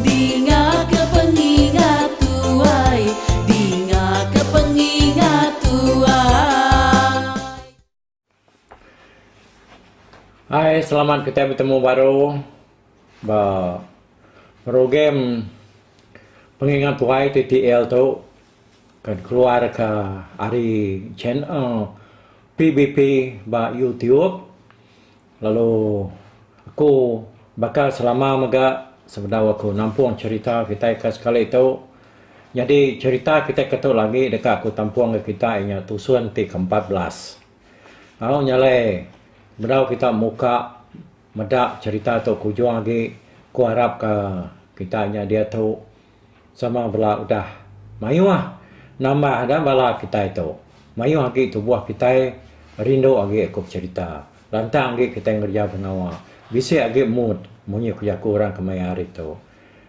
Dingaka pengingat tuai. Dingaka pengingat tuai. Hai selamat kitai betemu baru ba program pengingat tuai TTL tu ke dikeluarka ari channel PBP ba YouTube. Lalu aku baka selama mega sebedau aku nampung cherita kitai ka sekali tu. Nyadi cherita kitai ka tu lagi deka aku tampung ka kitai inya tusun ti ke empat belas. Au nya alai bedau kita muka meda cherita tu ke ujung agi, ku arap ka kitai nya diatu. Sama bela udah mayuh nambah ga bala kitai tu. Mayuh agi tubuh kitai rindu agi aku becerita. Lantang agi kitai ngereja pengawa. Bisi agi mood munyi ku jaku orang kemaya hari tu.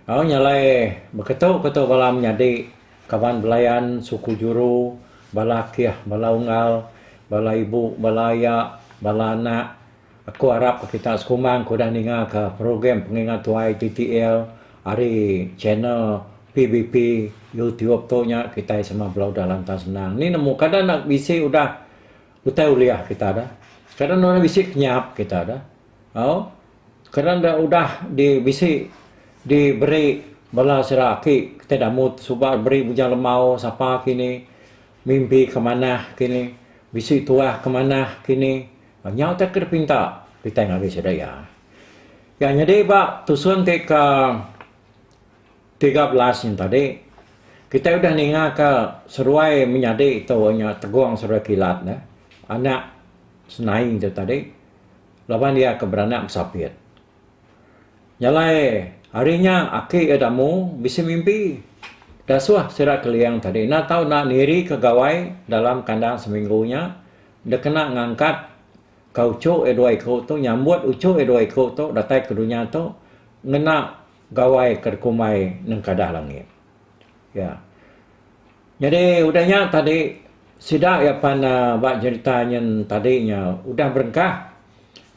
Au nya alai beketu ke tu bala menyadi, kaban belayan, suku juru, bala akih, bala unggal, bala ibu, bala aya, bala anak, Aku arap ka kita sekumang ke udah ninga ka program pengingat tuai TTL ari channel PBP YouTube tu nya kitai semua bala udah lantang senang ni nemu kada enda bisi udah utai ulih kita dah kada enda bisi penyap kita dah au kada enda udah di bisi di beri bala sida aki kitai damut suba beri bujang lemau sapa kini mimpi ke manah kini bisi tuah ke manah kini Nyau te ke dipinta kitai ngagai sida iya. Iya nyadi ba tusun ti ke tiga belas nya tadi, kitai udah ningaka seruai menyadi tu nya Tegong Seruai Kilat ne, anak Senaing tu tadi laban iya ke beranak besapit. Jalai ari nya aki iya Damu bisi mimpi dasuh sida Keliang tadi enda tau nirika gawai dalam kandang seminggu nya. Enda kena ngangkat ka uchu iya dua iku tu nyambut uchu iya dua iku tu datai ke dunya tu ngena gawai ke dikumbai nengkadah langit. Ya. Nyadi udah nya tadi sida iya pan uhh ba jerita nyin tadi nya udah berengkah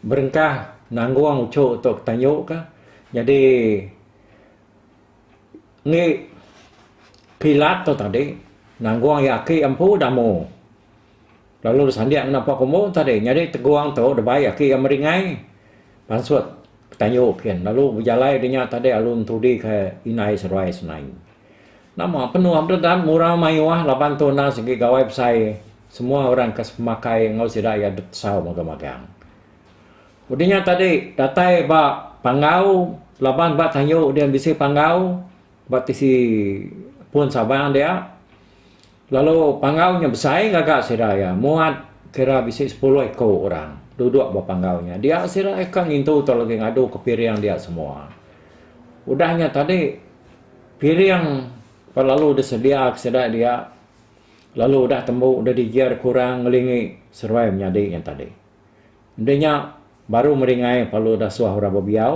berengkah nanggung uchu tu ke tanju ka nyadi enggi kilat tu tadi nanggung iya aki empu damu. lalu disandik ngena empa kumbu tadi nyadi teguang tu dibai aki iya meringai pansut tayu kin lalu bejalai nya dinya tadi lalu entudi ke indai seduai senain. Nama penua bededat ngurau mayuh laban tu enda sigi gawai besai semua orang ke semakai enggau sida iya dep tesau magang magang. Udah nya tadi datai ba panggau laban ba tayu dia bisi panggau ba tisi pun Sabang dia Lalu panggau nya besai ngaga sida iya, muat kira bisi sepuluh iku orang duduk ba panggau nya. Dia sida iya ka ngintu tau lagi ngadu ke piring dia semua. Udah nya tadi piring pa lalu disediaka sida dia lalu udah tembu udah dijer ke orang ngelingi seruai menyadi nya tadi. Enti nya baru meringai lalu udah suah orang bebiau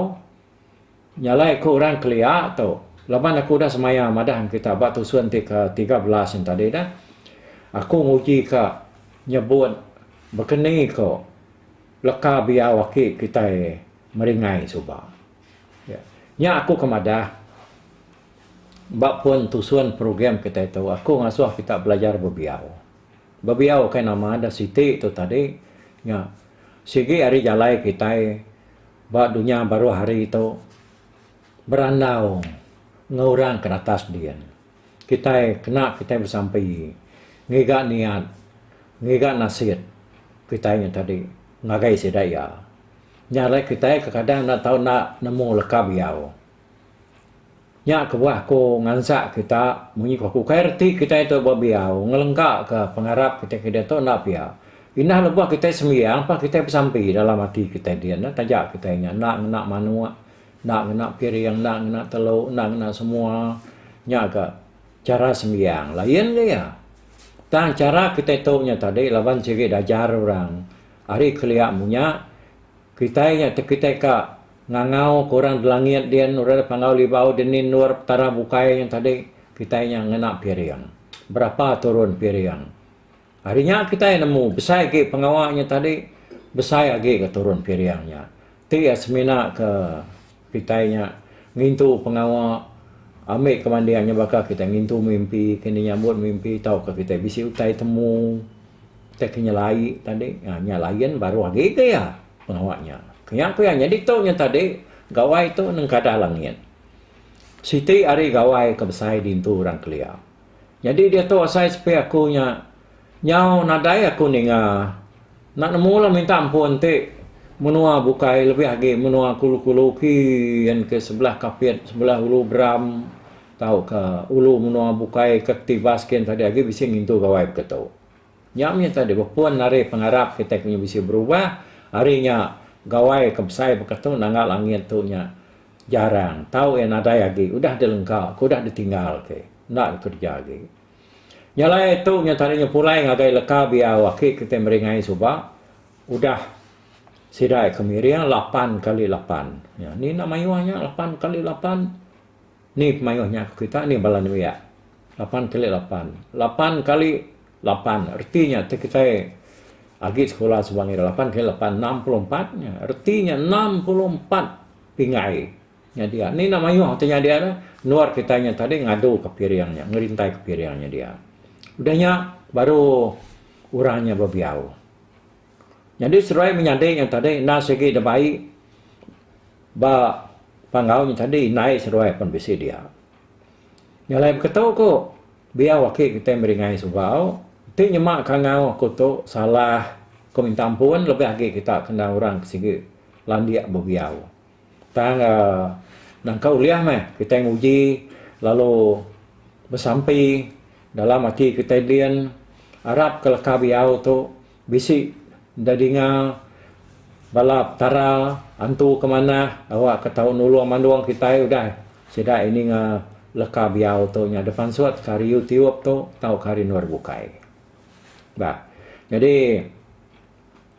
Nyalai ku orang kelia tu. Laban aku udah semaya madah ngan kita ba tusun ti ke tiga belas nya tadi dah. Aku nguji ka nyebut bekeni ko leka biau aki kitai meringai suba. Ya. Nya aku ke madah ba pun tusun program kitai tu aku ngasuh kita belajar bebiau. Bebiau kai nama dah siti tu tadi nya sigi ari jalai kitai. Ba dunya baruh hari tu, berandau enggau orang ke natas din, kitai kena kitai besampi ngiga niat, ngiga nasit kitai nya tadi ngagai sida iya. Nya alai kitai kekadang enda tau enda nemu leka biau. Nya kebuah aku ngansa kita munyi ku aku kai reti kitai tu ba biau ngelengka ka pengarap kitai ke diatu enda pia. Indah lebuh kitai sembiang pa kitai besampi dalam ati kitai dia enda taja kitai nya enda ngena manuk enda ngena piring enda ngena telu enda ngena semua nya ka chara sembiang lain ke iya. Tang chara kitai tu nya tadi laban sigi diajar orang ari kelia munya. Kitai nya tekitai ka ngangau ke orang delangit din orang da pandau libau dini endur petara bukai nya tadi kitai nya ngena piring. Berapa turun piring. Hari nya kitai nemu besai agi pengawa nya tadi besai agi ke turun piring nya. Ti iya semina ke. Kitai nya ngintu pengawa ambi kemanding nya baka kitai ngintu mimpi, kini nyambut mimpi tauka kitai bisi utai temu utai ke nyelai tadi. Nya nya lain baruh agi ke iya pengawa nya. Ke nya ku iya nya ditu nya tadi gawai tu nengkadah langit. Siti ari gawai ke besai dintu orang kelia. Nyadi diatu asai sepi aku nya Nyau nadai aku ninga. Enda nemu lah minta ampun ti menua bukai lebih agi menua kulu-kulu uki yen ke sebelah Kapit sebelah Ulu Beram tauka ulu menua bukai ke Tivas kian tadi agi bisi ngintu gawai baka tu. Nya mih tadi bepun ari pengarap kitai ke bisi berubah ari nya gawai ke besai baka tu nangga langit tu nya jarang tau iya nadai agi udah dilengka ke udah ditinggal ke enda kerja agi. Nya alai ari tu nya tadi nya pulai ngagai leka biau aki kitai meringai suba udah sida ke miring lapan kali lapan. Nya ni enda mayuh nya lapan kali lapan ni pemayuh nya ku kita ni bala nembiak lapan kali lapan. Lapan kali lapan reti nya ti kitai agi sekula suba ngira lapan kali lapan enam puluh empat nya reti nya enam puluh empat pingai. Nyadi ah. Ni enda mayuh ti nyadi ah dah. Luar kitai nya tadi ngadu ke piring nya, ngerintai ke piring nya dia. Udah nya baru orang nya bebiau. Nyadi seduai menyadi nya tadi enda sigi da bai ba panggau nya tadi indai seduai pun bisi dia. Nya alai beketu ku biau aki kitai meri ngai sugau, ti nyema ka enggau aku tu salah, ku minta ampun lebih agi kita ke enda orang ke sigi landik bebiau. Tang nangka ulih meh kitai nguji lalu besampi dalam ati kitai din arap ke leka biau tu bisi enda dinga bala petara antu ke manah awa ke tau nulung mandung kitai udah sida ini nya leka biau tu nya deh pansut ke hari youtube tu tauka hari anu hari bukai. Bah jadi.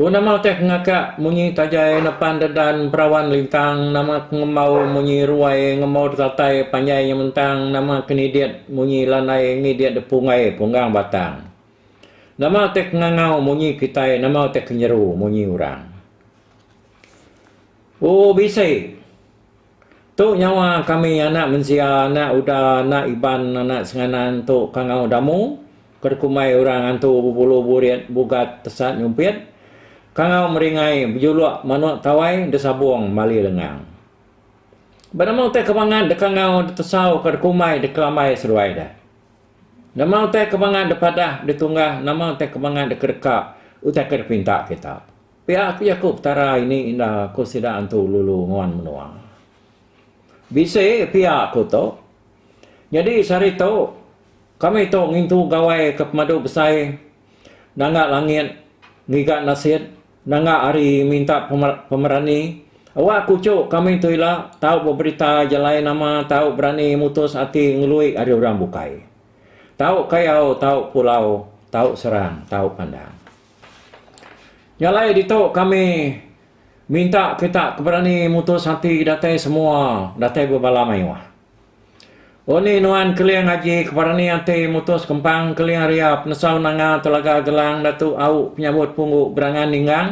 Ku nama utai ke ngakak munyi tajai nepan dedan perawan lintang nama ke ngembau munyi ruai ngembau detatai panjai nya mentang nama ke nidit munyi lanai ngidit depunggai punggang batang nama utai ke ngangau munyi kitai nama utai ke nyeru munyi orang. O bisi. Tu nyawa kami anak mensia, anak Uda, anak Iban, anak Senganan tu kangau Damu, ke dikumbai orang antu bebulu burit, bugat, tesat nyumpit, kangau meringai, bejuluk, manuk tawai, desabung, mali lengang. Ba nama utai ke bangat dekangau, detesau, ke dekumbai, dekelambai seduai deh? Nama utai ke bangat depadah, detunggah, nama utai ke bangat dekedeka utai ke dipinta kita? Pia ku Yakub, Petara ini enda ku sida antu lulu nguan menua. Bisi pia ku tu. Nyadi sehari tu, kami tu ngintu gawai ke pemadu besai, nanga langit, ngiga nasit, nanga ari minta pemerani. Awak kuchu kami tu ila tau beberita jalai nama tau berani mutus ati ngelui ari orang bukai. Tau kayau, tau pulau, tau serang, tau pandang. Nya alai ditu kami minta kita ke berani mutus ati datai semua datai ba bala mayuh. Unih nuan Keling Aji ke berani ati mutus kempang Keling Ria Penasau Nanga Telaga Gelang Datu Au Penyabut Punggu Berangan Ninggang.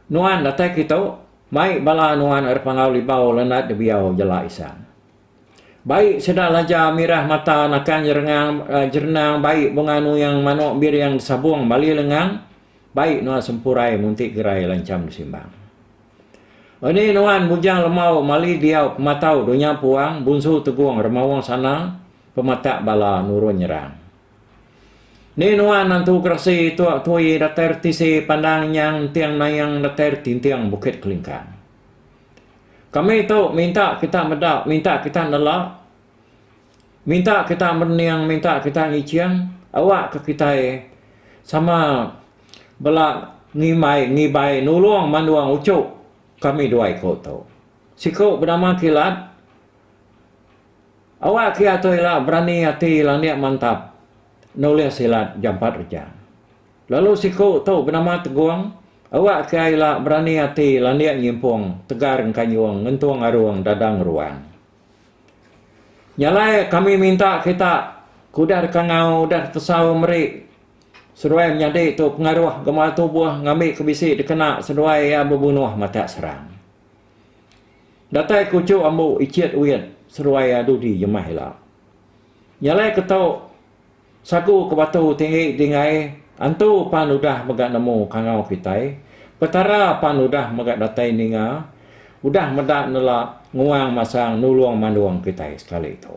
Nuan datai kitu, mai bala nuan ari Pangau Libau Lanat Debiau Jala Isang. Bai sedar laja mirah mata nakan jerengang jerenang bai bunga nuyang manok biriang besabong bali lengang bai nuan sempurai munti gerai lancham besimbang. Eni nuan bujang lemau mali diau pematau dunya puang bunsu tegong remaong sana pematak bala nurun nyerang. Ni nuan antu geresi tok tui datai retisi pandang nyang enting nayang datai retinting bukit kelingkang. Kami tu minta kita meda, minta kita nela, minta kita mening, minta kita ngiching awakka kitai sama bela ngimbai ngibai nulung mandung uchu kami dua iku tu. Siku benama Kilat awak kiya tu ila berani ati lanik mantap nulis silat jampat reja. Lalu siku tu benama Tegong, awak kiya ila berani ati landik nyimpung tegar engkanyung ngentung arung dadang ruang. Nya alai kami minta kita ke udah dekangau udah detesau meri seduai menyadi tu pengaruh gemar tubuh ngambika bisi dikena seduai iya bebunuh matak serang. Datai ku Chu Ambu Ichit Wit seduai iya dudi jemah ila. Nya alai ke tu. Sagu ke batu tinggi dingai, Antu pan udah mega nemu kangau kitai, Petara pan udah mega datai ninga, udah meda nela nguang masang nulung mandung kitai sekali tu.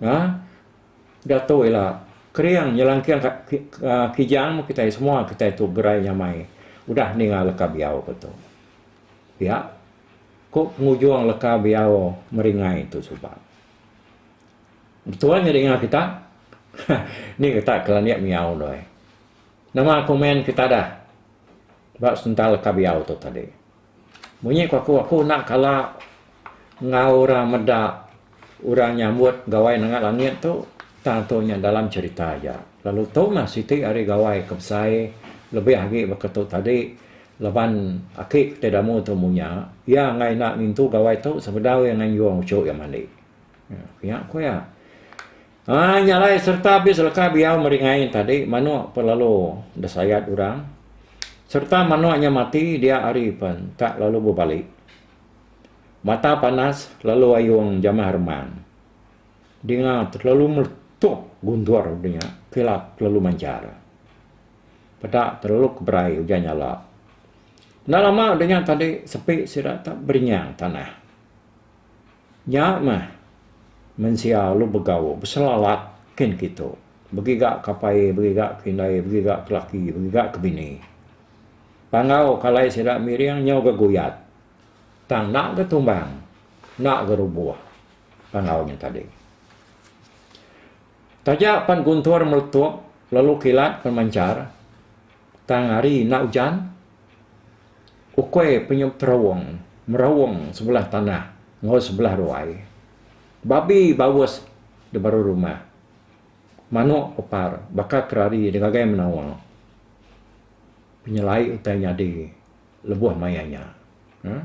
Nga udah tu ila kering nyelangking ka kijang meh kitai semua kitai tu gerai nyamai udah ninga leka biau ke tu. Pia ku pengujung leka biau meringai tu suba. Betuan nya dinga kita. Ni kita ke landik miau doi. Nama komen kita dah ba sebentar leka biau tu tadi. Munyi ku aku aku enda kala enggau orang meda orang nyambut gawai nanga langit tu tang tu nya dalam cerita aja. Lalu tu mah siti ari gawai ke besai lebih agi baka tu tadi laban aki ti damu tu munya iya enggai enda ngintu gawai tu sebedau iya nganjung uchu iya mandi. Nya ku iya. Ai nya alai sereta abis leka biau meri ngai tadi manuk pun lalu disayat orang sereta manuk nya mati dia hari pun tak lalu bebali. Mata panas lalu ayung jamah remang. Dinga telalu meletup gundur udah nya kilat telalu manjar. Peda telalu ke berai ujan nyala. Enda lama udah nya tadi sepi sida tak berinyang tanah. Nya meh, mensia alu begau, beselalat kin kitu, begiga ke apai, begiga ke indai, begiga ke laki, begiga ke bini. Panggau ke alai sida miring nyau ga guyat. Tang enda ga tumbang, enda ga rubuh panggau nya tadi. Taja pan guntur meletup lalu kilat pan manchar. Tang hari enda ujan, ukui penyup terowong merowong sebelah tanah enggau sebelah ruai. Babi baus di baruh rumah. Manuk pepar baka ke rari di ngagai menawa. Penyelai utai nyadi lebuh maya nya. Uhh.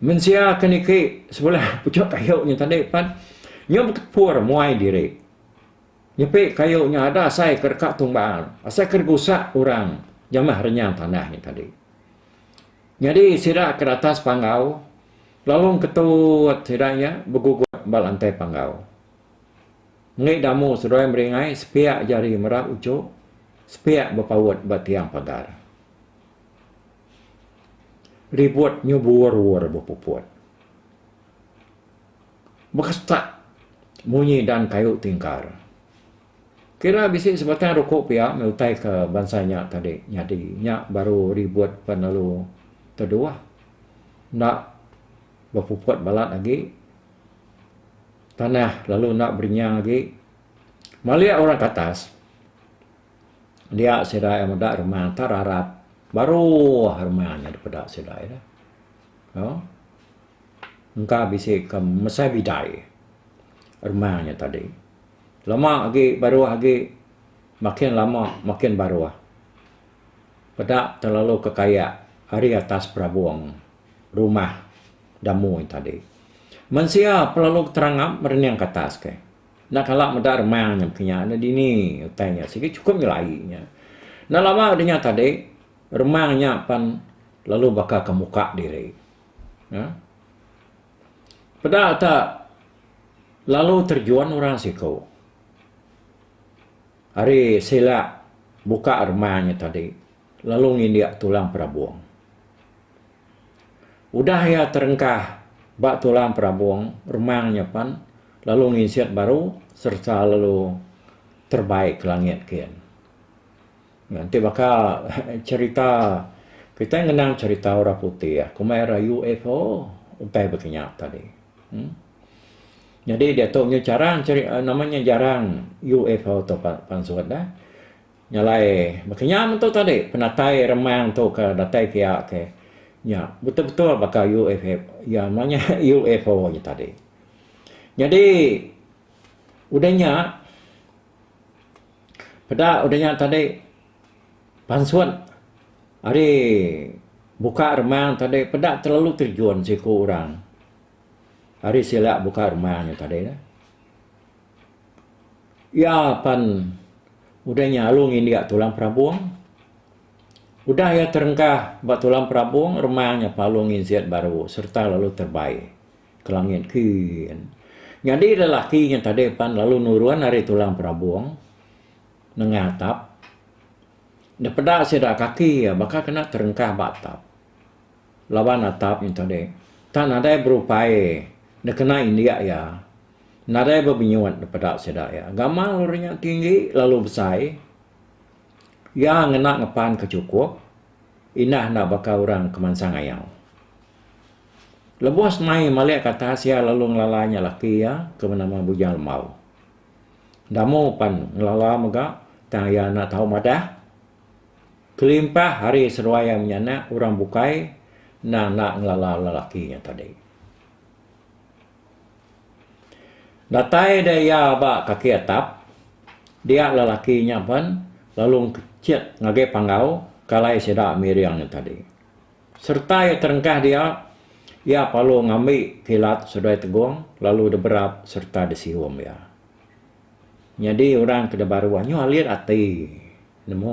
Mensia ke niki sebelah puchuk kayu nya tadi pan, nyau bekepur muai diri. Nyepi kayu nya ada asai ke deka tung baal, asai ke digusak orang jamah renyang tanah nya tadi. Nyadi sida ke datas panggau lalu ngketut sida nya begugut ba lantai panggau. Enggi damu seduai meringai sepiak jari merap uchu, sepiak bepaut ba tiang pagar. Ribut nyubur-wur bepuput. Baka setak munyi dan kayu tingkar. Kira bisi sebatang ruku pia meh utai ke bansa nya tadi nyadi. Nya baru ribut pan lalu teduah. Enda bepuput balat agi. Tanah lalu enda berinyang agi. Malik orang ke atas, dia sida iya meda reman ta rarat baruh reman nya dipeda sida iya. Au. engka bisi ke mesai bidai rumah nya tadi. Lama agi baruh agi makin lama makin baruh. Peda terlalu kekayak ari atas perabung rumah da mui tadi. Mensia terlalu keterangap merening ke atas ke. Enda kala meda remang nya mungkin nya enda dini utai nya sigi chukup nyelai nya. Enda lama nya tadi remang nya pan lalu baka ke muka diri. Nah. Peda ta lalu terjun orang siku. Hari sila buka rumah nya tadi lalu ngindik tulang perabung. Udah iya terengkah ba tulang perabung rumah nya pen lalu nginsik baru sereta lalu terbai ke langit gin. Ti baka cherita kitai ngenang cherita orang putih komai ira UFO utai bagi nya tadi. Em Nyadi diatu nya jarang nama nya jarang UFO tu pan sut dah. Nya alai baka nya metu tadi penatai remang tu ke datai ke iya ke nya betul betul baka UFO iya nama nya UFO nya tadi. Nyadi udah nya Peda udah nya tadi pansut ari buka rumah tadi peda telalu terjun siku orang ari sida buka rumah nya tadi ne. Iya pan udah nya lalu ngindik tulang perabung. Udah iya terengkah ba tulang perabung, remang nya palung nginsit baru sereta lalu terbai ke langit kin. Nyadi lelaki nya tadi pan lalu nurun ari tulang perabung nengah atap. Dipeda sida kaki iya baka kena terengkah ba atap laban atap nya tadi tang nadai berupai dikena indik iya. Nadai bebinyut dipeda sida iya. Gamal uri nya tinggi lalu besai. Iya ngena ngepan ke chukup indah enda baka orang ke mansang ayau. Lebuh semai malik ke atas iya lalu ngelala nya laki iya ke benama Bujang Lembau. Damu pan ngelala mega tang iya enda tau madah. Kelimpah hari seduai iya menyanak orang bukai endang enda ngelala lelaki nya tadi. Datai deh iya ba kaki atap, dia lelaki nya pen lalu ngkechet ngagai panggau kalai sida miring nya tadi. Sereta iya terengkah dia, iya palu ngambi kilat seduai tegong lalu deberap sereta desium iya. Nyadi orang ke debaru anyuh alit ati nemu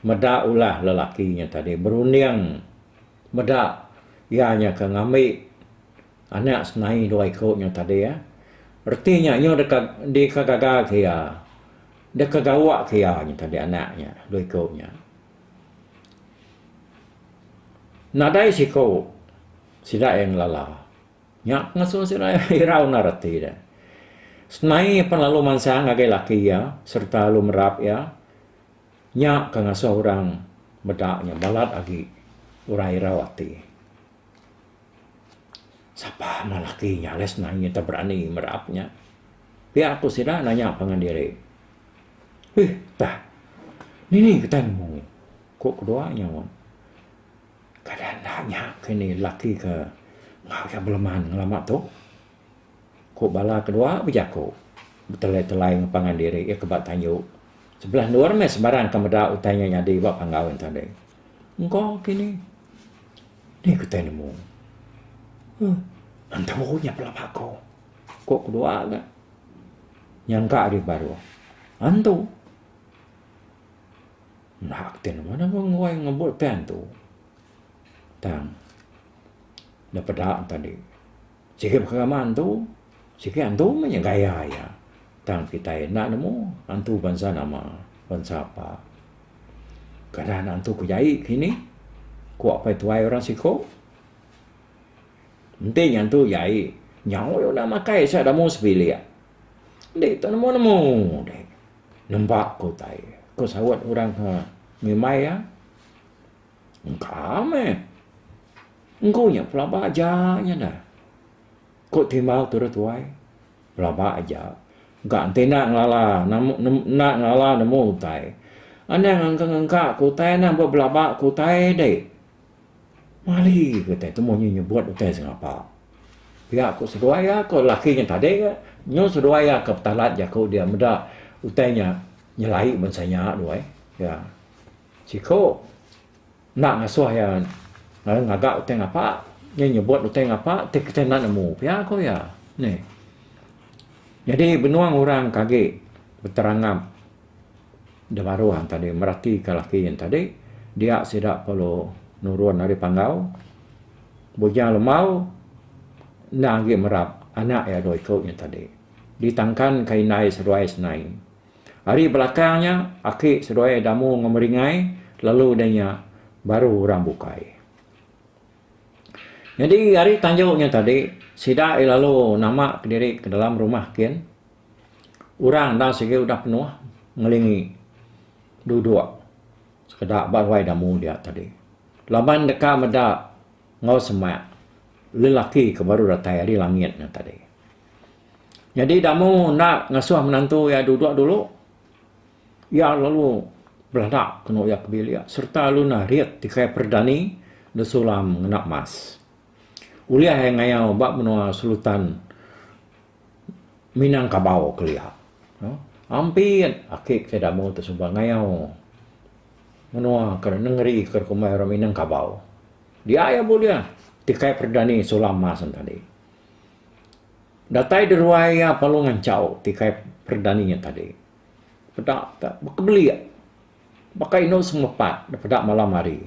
meda ulah lelaki nya tadi berunding meda iya nya ke ngambi Anak senai dua iku nya tadi iya. Reti nya iya deka deka gaga ke iya. Deka gawa ke iya nya tadi anak nya dua iku nya. Nadai siku sida iya ngelala. Nya ngasuh sida iya irau nda reti iya. Senai pan lalu mansang ngagai laki iya sereta lalu merap iya. Nya ke ngasuh orang meda nya balat agi orang irau ati. Sapa meh laki nya alai senang inya tau berani merap nya. Pia ku sida nanya pangan diri. Heh tah nini kitai nemu ngi? ku kedua nya wan. Kada enda nya ke ni laki ke enggau iya beleman ngelama tu, ku bala kedua bejaku betelai-telai ngen pangan diri iya ke ba tanju. Sebelah endur meh sembarang ke meda utai nya nyadi ba panggau nya tadi. Engkau kini. Deh kitai nemu. Huh. Entu nya pula bako. Ko kedua ga. Nyangka deh baruh. Entu. Enda kitai nemu dah ngoi ngembu tai entu. Tang. Dah peda tadi. Sigi pekara mak antu, sigi antu meh nya gaya iya. Tang kitai enda nemu antu bansa nama, bansa apa. Keadaan antu ke jai kini, ku apai tuai orang siko. Enti antu jai, nyau iya udah makai sak damu sebilik. Enti tu nemu nemu deh nempa ke utai, ku saut orang ke ngimbai iya. Engka meh. Engku nya pelaba aja nya neh. Ku Timau turut tuai. Pelaba aja. Engka enti enda ngelala enda ngelala nemu utai. Anang engka-engka ke utai anang ba belaba ke utai dei. Mali ke utai tu mung inya nyebut utai sengapa. Pia ku seduai iya ko laki nya tadi ke nyun seduai iya ke petalat jaku dia meda utai nya nyelai bansa nya duai iya. Siku. Enda ngasuh iya ngagai ngaga utai ngapa. Iya nyebut utai ngapa ti kitai enda nemu pia ku iya. Nih. Nyadi benung orang ke agi beterangap da baruh tadi meratika laki nya tadi dia sida perlu nurun ari panggau bujang lembau enda agi merap anak iya dua iku nya tadi ditangkanka indai seduai senai. Ari belakang nya, aki seduai Damu enggau Meringai lalu deh nya baru orang bukai. Nyadi ari tanjau nya tadi, sida ai lalu nama kediri ke dalam rumah kin. Orang enda sigi udah penuh ngelingi duduk sekeda ba ruai Damu dia tadi. Laban deka meda enggau semak lelaki ke baru datai ari langit nya tadi. Nyadi Damu enda ngasuh menantu iya dudok dulu. Iya lalu belada kenu iya ke bilik sereta lalu narit tikai peredani nda sulam ngena mas. Ulih ai ngayau ba menua selutan Minangkabau kelia. Ampit aki ke Damu ti suba ngayau menua ke nengeri ke dikumbai orang Minangkabau. Dia iya bulih tikai peredani sulam mas enti andi. Datai deruai iya perlu ngancau ti kai perdani iya tadi. Peda ka bekebelik. Baka indu semua pak da peda malam hari.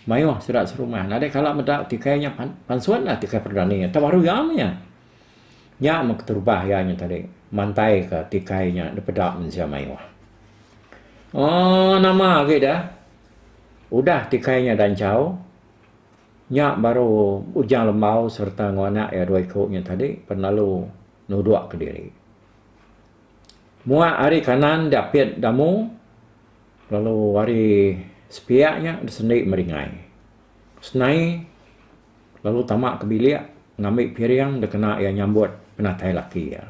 Mayuh sida serumah nadai kala meda ti kai nya pan pansun ti kai perdani iya tau baru iya meh iya. Nya meh keterubah iya nya tadi mantai ka ti kai nya da peda mensia mayuh. Aaa nama agi da udah ti kai nya da enchau. Nya baru Ujang Lembau sereta enggau anak iya dua iku nya tadi penalu nuduk kediri. Muak ari kanan diapit Damu lalu ari sepiak nya disendi meringai. Senai lalu tama ke bilik ngambi piring dikena iya nyambut penatai laki iya.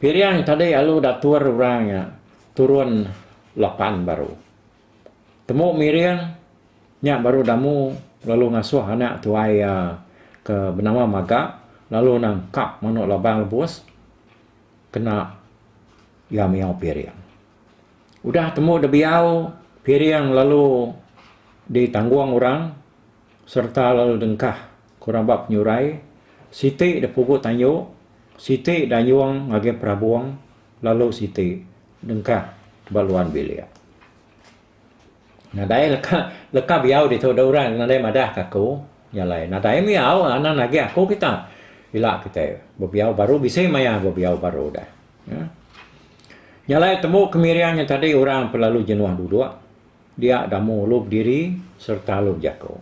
Piring tadi alu datur orang nya turun lapan baru. Temu miring nya baru damu lalu ngasuh anak tuai iya ke benama Maga lalu nangkap manu labang lebus kena iya miyau piring. Udah temu da biyau piring lalu ditanggung orang sereta lalu dengkah ke orang ba penyurai siti da pugu tanyu siti da nyung ngagai perabung lalu siti. Dengkah ba luan bilik. Nadai leka leka biau ditu deh orang nadai madah ka aku. Nya alai nadai mih au anan agi aku kita. Ila kitai bebiau baru bisi maya bebiau baru deh. Nya alai tembu kemiring nya tadi orang pun lalu jenuh duduk dia damu lu bediri sereta lu bejaku.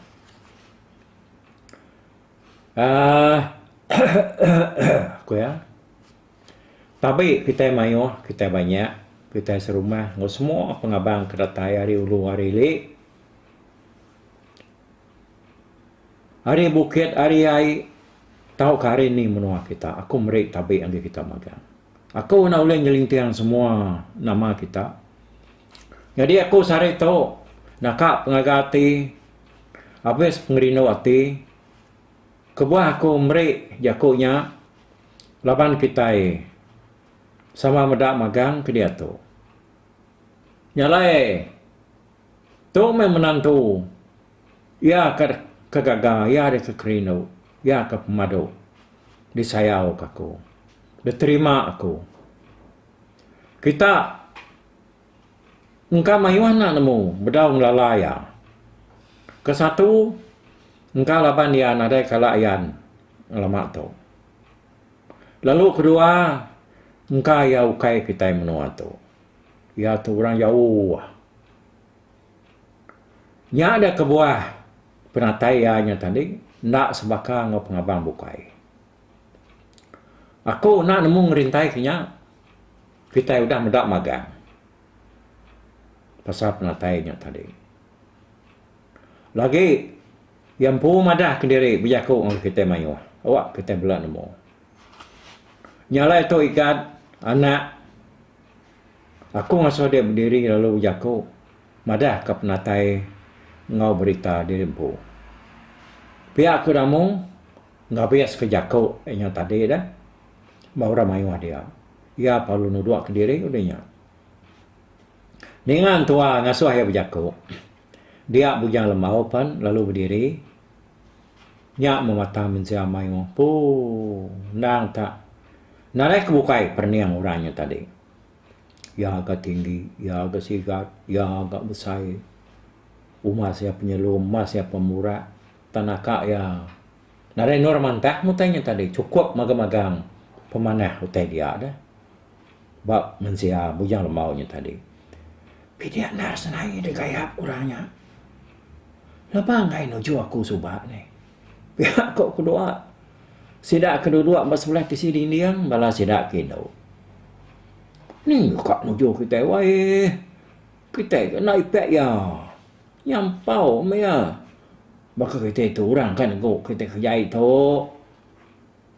Aaa. Ku iya. Tabi kitai mayuh, kitai banyak, kitai serumah enggau semua pengabang ke datai ari ulu ari ili, ari bukit ari ai tauka ari indi menua kita, aku meri tabi agi kita magang. Aku enda ulih nyelinting semua nama kita. Nyadi aku sehari tu naka pengaga ati abis pengerindu ati. Kebuah aku meri jaku nya laban kitai sama meda magang ke diatu. Nya alai tu meh menantu iya ke ke gaga iya deka kerindu, iya ke pemadu disayauka aku, diterima aku. Kita. Engka mayuh enda nemu bedau ngelala iya. Ke satu, engka laban iya nadai kala ayan ngelama tu. Lalu ke dua, engka iya ukai kitai menua tu. Iya tu orang jauh. Nya da kebuah penatai iya nya tadi enda sebaka enggau pengabang bukai. Aku enda nemu ngerintaika nya. Kitai udah meda magang pasal penatai nya tadi. Lagi iya empu madahka diri bejaku ngagai kitai mayuh. Awak kitai bela nemu. Nya alai tu Igat, anak, aku ngasuh dia bediri lalu bejaku madahka penatai enggau berita diri empu. Pia aku damu ngabis ke jaku nya tadi dah. ba orang mayuh dia. Iya parlu nudukka diri udah nya. Ninga entua ngasuh iya bejaku, dia Bujang Lembau pen lalu bediri. Nya mematah mensia mayuh. Puu endang tak nadai ke bukai perening orang nya tadi. Iya ga tinggi, iya ga sigat, iya ga besai. Umas iya penyelum, umas iya pemurak. Tang naka iya. Nadai endur mantah meh utai nya tadi chukup magang-magang pemanah utai dia deh ba mensia Bujang Lembau nya tadi. Pidek endar senaie digayap orang nya. Leba enggai nuju aku suba nih. Pia ko kedua. Sida ke duduk ba sebelah tisi dinding bala sida ke indu. Ning ka nuju kitai wai. Kitai ke enda ipek iya. Nyampau meh iya. Baka kitai tu orang ka negu kitai ke jai tu.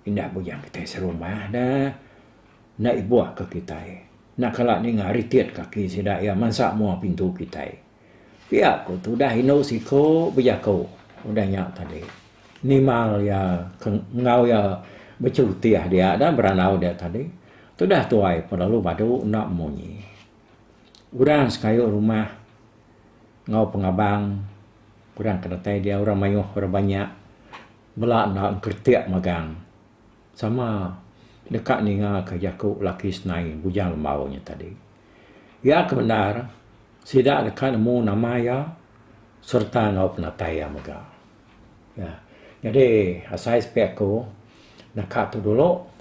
Indah bujang kitai serumah da. Enda ibuh ka kitai. Enda kala ninga ritit kaki sida iya mansa mua pintu kitai. Pia ku tudah indu siku bejaku udah nya tadi. Nimal iya ke enggau iya bechutih dia da berandau dia tadi. Tudah tuai pelalu badu enda munyi. Orang sekayu rumah enggau pengabang orang ke datai dia orang mayuh orang banya bala enda engkretek magang sama deka ninga ka jaku laki senai bujang lembau nya tadi. Iya ke bendar sida deka nemu nama iya sereta enggau penatai iya mega. Jadi asai sepi aku naka tu dulu.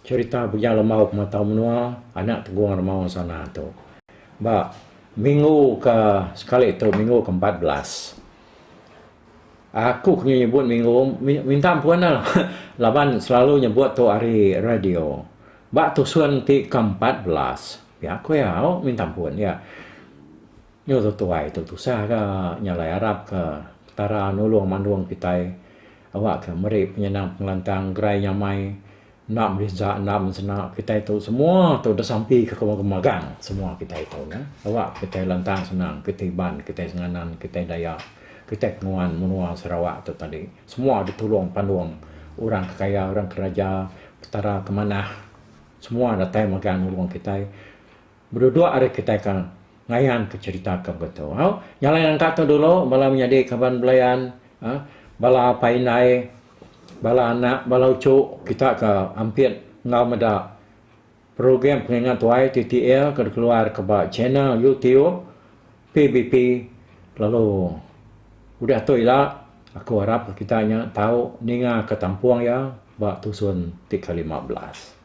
Cherita Bujang Lemau ke Matau Menua anak Tegung Remaung Sana tu ba minggu ke sekali tu minggu ke empat belas aku ke nyebut minggu minta ampun la laban selalu nyebut tu ari radio ba tusun ti ke empat belas pia aku iya ho minta ampun iya nyu tu tuai tu tusah ga nyalai arap ke petara nulung mandung kitai Awakka meri penyenang pengelantang gerai nyamai enda berinsa enda mensena kitai tu semua tu disampi ke kemuka magang semua kitai tu nya awak kitai lantang senang kitai iban kitai senganan kitai dayak kitai kenuan menua Sarawak tu tadi semua ditulung pandung orang ke kaya orang ke raja petara ke manah semua datai magang nulung kitai. Beduduk ari kitai ke ngayan ke cherita ke begitu. Au, nyalai nangka ke dulu bala menyadi kaban belayan, bala apai indai, bala anak, bala uchu kita ke ampit enggau meda program pengingat tuai ti ti iya ke dikeluar ke ba channel youtube PBP lalu udah tu ila aku arap ke kita nya tau ninga ke tampung iya ba tusun ti ke lima belas.